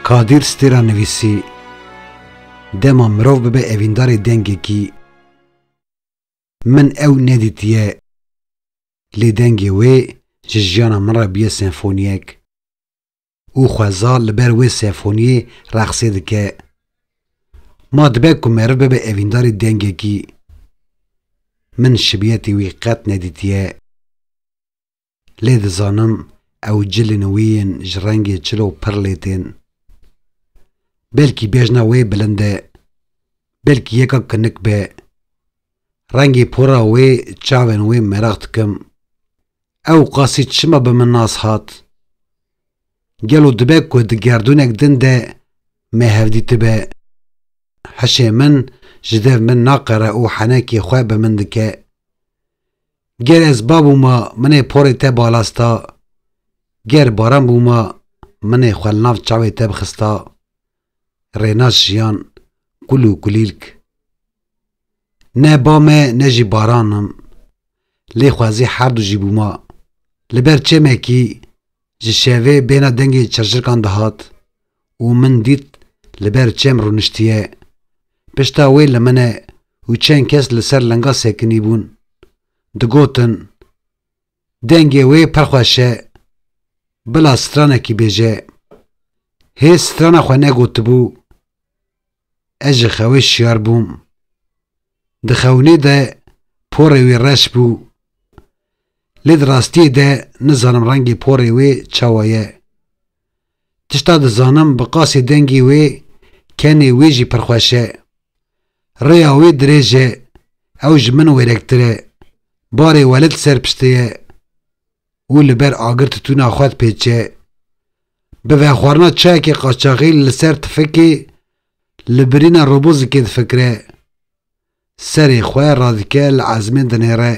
Kadir Stêra nivîsî, Dema mirov bibe evîndarê dengekî, min ew nedîtiye lê dengê wê ji jiyana min re bûye senfoniyek. û xweza li ber wê sefûniyê reqsê dike. Ma dibe ku meriv bibe evîndarî dengekî. Min şibiyetê wî qet nedîtiye. Lê dizanim ew cilên wî yên ji rengê çil û pir lê tên. Belkî bejna wê bilind e. Belkî yeka kinik be. Rengê pora wê, çavên wê meraq dikim. Ew qasî çima bi min nas hat? Gelo dibe ku di gerdûnek din de me hevdîtibe? Hişê min ji dev min naqere û henekê xwe bi min dike. Ger ez ba bûma minê porê te balas da. Ger baran bûma minê xwe li nav çavê te bixista. Rênas jiyan kul û kulîlk Ne ba me ne jî baran im Lê xwezî herdu jî bûma Li ber çêmekî ji şevê bêhna dengê çirçirkan dihat û min dît li ber çêm rûniştiye Pişta wê li min e û çend kes li ser linga sekinîbûn Digotin Dengê wê pir xweş e. Bila stranekî bêje. Hê strana xwe negotibû. Ez ji xewê şiyar bûm. Di xewinê de porê wê reş bû. Lê di rastiyê de nizanim rengê porê wê çawa ye. Tişta dizanim bi qasî dengî wê kenê wî jî pir xweş e. Rêya wê dirêj e, ew ji min wêrektir e. Barê welê di ser piştê ye û li ber agir titûna xwe dipêçe. Bi vexwarina çayekê qaçaxî li ser tifikê li birîna robozikê difikire. Serê xwe radike li ezmên dinêre.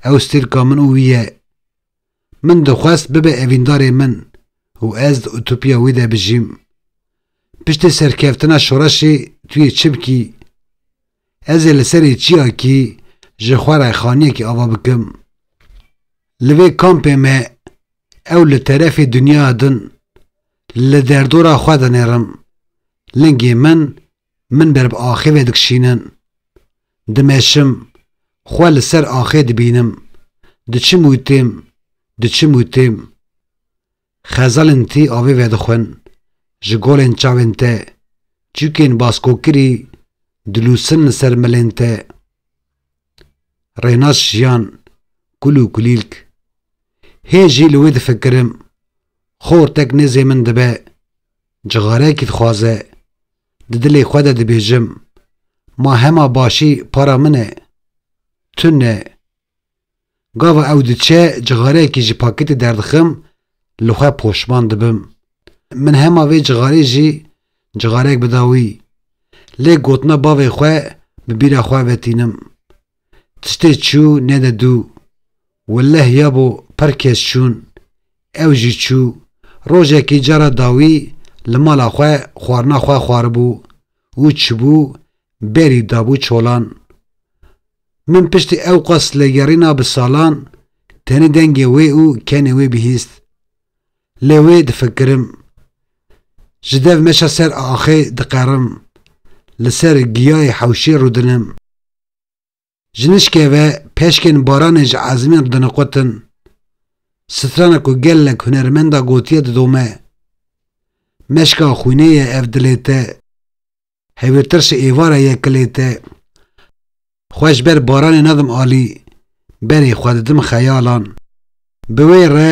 Ew stêlka min û wî ye. Min dixwest bibe evîndarê min û ez di utopiya wî de bijîm. Piştî serkeftina şoreşê tu yê çi bikî? Ez ê li serê çiyakî ji xwe re xaniyekî ava bikim. Li vê kampê me ew li terefê dinyaya din li derdora xwe dinêrim. Lingê min Min ber bi axê ve dikişînin. Dimeşim, xwe li ser axê dibînim. Diçim û têm, diçim û têm. Xezalên tî avê vedixwin, ji golên çavên te, çûkên baskokirî dilûsin li ser milên te. Rênas jiyan, kul û kulîlk. Hê jî li wê difikirim. Xortek nêzê min dibe. Cixareyekî dixwaze, di dilê xwe de dibêjim, Ma hema başî para min e. Tu ne. Gava ew diçe cixareyekî ji pakêtê derdixim, li xwe poşman dibim. Min hema vê cixarê jî cixareyek bida wî. Lê gotina bavê xwe bi bîra xwe vetînim. Tiştê çû ne de dû. Willeh ya bo pir kes çûn. Ew jî çû. Rojekî cara dawî li mala xwe xwarina xwe xwaribû û çibû berî dabû çolan. Min piştî ew qas legerîna bi salan tenê dengê wê û kenê wê bihîst. Lê wê difikirim. Ji dev meşa ser axê diqerim. Li ser giyayê hewşê rûdinim. Ji nişkê ve peşkên baranê ji ezmîn re diniqûtin, strana ku gelek hunermenda gotiye didome, Meşka xwînê ye ev dilê te, hevîrtir ji êvara ye kilê te, xwe ji ber baranê nadim alî, berê xwe didim xeyalan. Bi wê re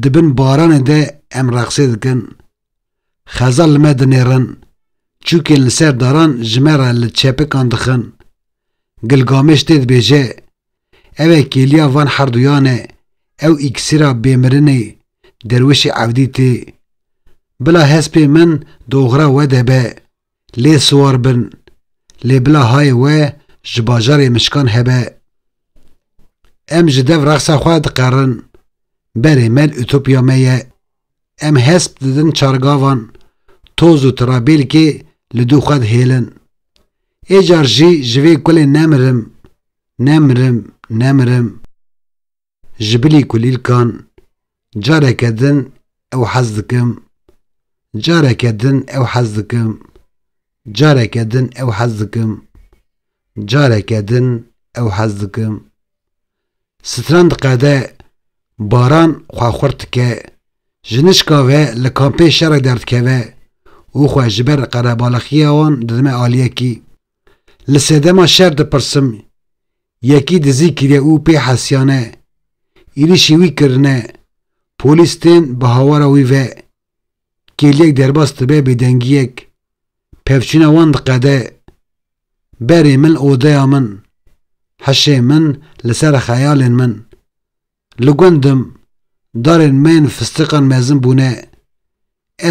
di bin baranê de em reqsê dikin, Xeza li me dinêrin, çûkên li ser daran ji me re li çepikan dixin. Gilgameş tê dibêje, Ev e kêliya van herduyan e, ew îksîra bêmirinê derwişê Ewdîtê. Bila hespê min di oxira we de be, Lê siwar bin. Lê bila hayê we ji bajarê mişkan hebe. Em ji dev rexsa xwe dikarin. Berê mel ütopya me ye. Em hesp didin çargavan, toz û tirabêlkê li dû xwe dihêlin. Ê car jî ji vê kulê nemirim, nemirim, nemirim. Ji bilî kulîlkan careke din ew hez dikim, careke din ew hez dikim, careke din ew hez dikim, careke din ew hez dikim. Stran diqede, baran xwe xurt dike, ji nişka ve li kampê şerê derdikeve û xwe ji ber qerebalaxiya wan didime aliyekî. Li sedema şer dipirsim, yekî dizî kiriye û pê hesiyane, êrîşî wî kirine, polîs tên bi hawara wî ve, kêliyek derbas dibe bêdengiyek, pevçûna wan diqede, berê min li odeya min, hişê min li ser xeyalên min. Li gundim, darên me yên fistiqan mezin bûne,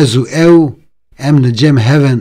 ez û ew em li cem hev in.